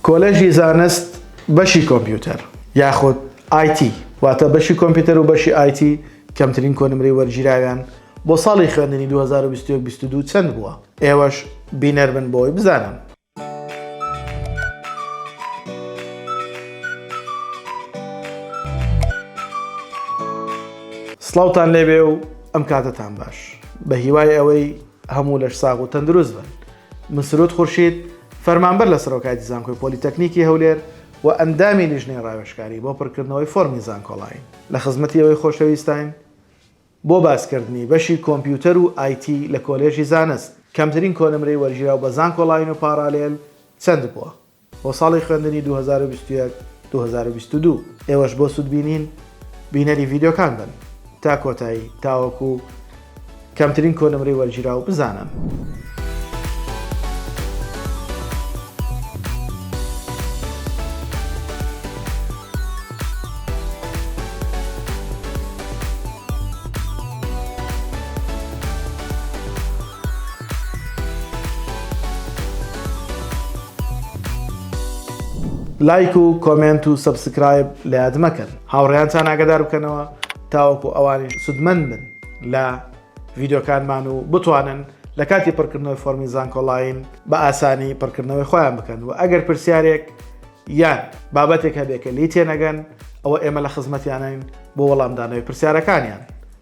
کۆلێژی زانست بەشی کۆمپیوتەر یاخود IT واتە بەشی کۆمپیوتەر و بەشی IT کەمترین کۆنمرەی وەرگیراویان بۆ ساڵی خوێندنی 2021 22 چەند بووە؟ ئێوەش بینەر بن بۆی بزانن. سڵاوتان لێبێ و ئەم کاتەتان باش بە هیوای ئەوەی هەموو لەش ساغ و تەندروست بن. مسرود خورشید، فەرمانبەر لە سەرۆکایەتی زانکۆی پۆلیتەکنیکی هەولێر و ئەندامی لیژنەی ڕاوێژکاری بۆ پڕکردنەوەی فۆرمی زانکۆڵاین، لە خزمەتی ئێوەی خۆشەویستاین بۆ باسکردنی بەشی کۆمپیوتەر و IT لە کۆلێژی زانست، کەمترین کۆنمرەی وەرگیراو بە زانکۆڵاین و پاڕالێل چەند بووە؟ بۆ ساڵی خوێندنی دوو هەزار و بیست و یەک دوو هەزار و بیست و دوو. ئێوەش بۆ سوودبینین بینەری ڤیدیۆکان بن تا کۆتایی تاوەکو کەمترین کۆنمرەی وەرگیراو بزانن. لایک و کۆمێنت و سەبسکرایب لە یاد مەکەن هاوڕێیانتان ئاگدار بکەنەوە تاوەکو ئەوانیش سودمەند بن لە ڤیددیوکانمان و بتوانن لە کاتی پڕکردنەوەی فۆرمی زانکۆڵین بە ئاسانی پڕکردنەوەی خۆیان بکەن و ئەگەر پرسیارێک یان بابەتێک هەبێکە لی تێنەگەن ئەوە ئێمە لە خزمەتیانین بۆ وەڵامدانەوەی پرسیارەکانیان